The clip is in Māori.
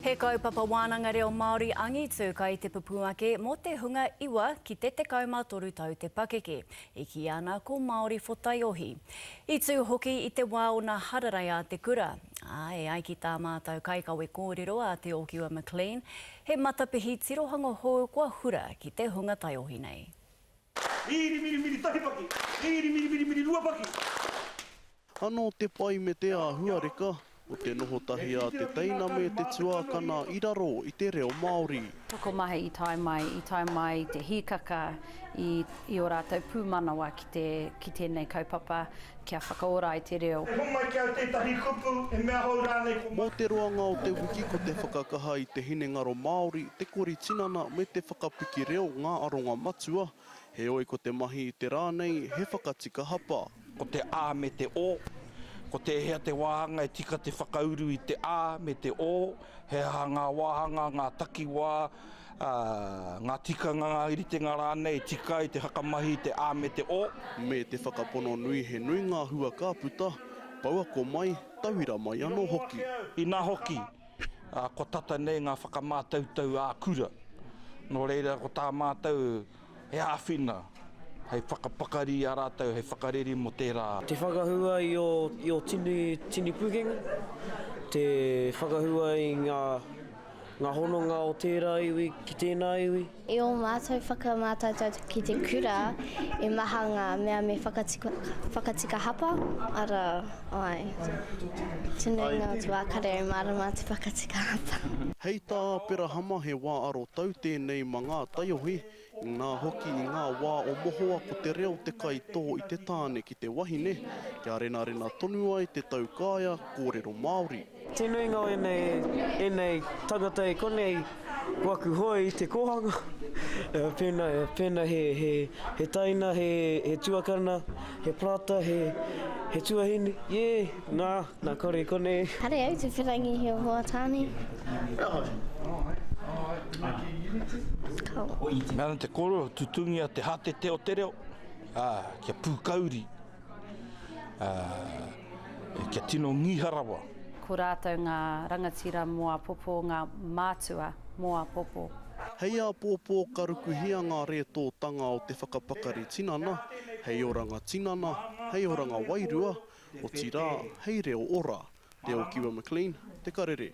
He kaupapa wānanga reo Māori angitu kai te pupū ake mō te hunga iwa ki te 13 tau te pakeke, i kīia ana ko Māori Whotaiohi. I tū hoki i te wā o nā hararei a te kura, ā, e ai ki tā mātau kaikawe kōrero a Te Ōkiwa McLean, he matapihi tirohanga hou kua hura ki te hunga taiohi nei. Riri miri miri tahi paki. Riri miri miri miri rua paki. Anō te pai me te āhuareka o te noho tahi a te teina me te tuākana i raro i te reo Māori. Tokomaha i tae mai, i tae mai i te hīkaka i ō rātou pūmanawa ki tēnei kaupapa. Kia whakaora ai te reo. E homai ki au tētahi kupu, he mea hou rānei ko. Mō te roanga o te wiki ko te whakakaha i te hinengaro Māori, te kori tinana me te whakapiki reo ngā aronga matua, heoi ko te mahi i te rā nei he whakatika hapa. Ko te a me te o, ko tēhea te wāhanga e tika te whakauru i te a me te o, he aha ngā wāhanga, ngā takiwā, ngā tikanga, ngā ritenga rānei, tika ai te whakamahi, te a me te o. Me te whakapono nui he nui ngā hua ka puta, pouako mai, tauira mai anō hoki. Inā hoki, kua tata nei ngā whakamātautau ā-kura. Nō reira, ko tā mātou. He āwhina hei whakapakari i a rātou hei whakareri mō tērā. Te whakahua i ō tini pukenga, te whakahua i ngā hononga o tērā iwi ki tēnā iwi. I ō mātou whakamātautau ki te kura, i maha ngā mea me whakatika hapa, arā. Āe. Te nuinga o te wā ka rere mārama te whakatika hapa. Hei tā Aperahama he wā arotau tēnei ma ngā taiohi, inā hoki i ngā wā o mohoa ko te reo te kaitō i te tāne ki te wahine, kia renarena tonu ai te taukaea kōrero Māori. Te nuinga o ēnei, ēnei tangata e konei ko aku hoe i te kōhanga, pēnā, pēnā he, he, he taina, he, he tuakana, he parata, he, he tuahine, ē, nā, nā kore konei. Kare au te wherangi he hoa tāne. Nana te koro, tutungia te hatete o te reo, ā, kia pūkauri, ā. Kia tino ngiha rawa. Ko rātou ngā rangatira mō apopo ngā mātua mō apopo. Hei āpōpō ka rukuhia ngā rētōtanga o te whakapakari tinana hei oranga tinana, hei oranga wairua, otirā, hei reo ora. Te Okiwa McLean, Te Karere.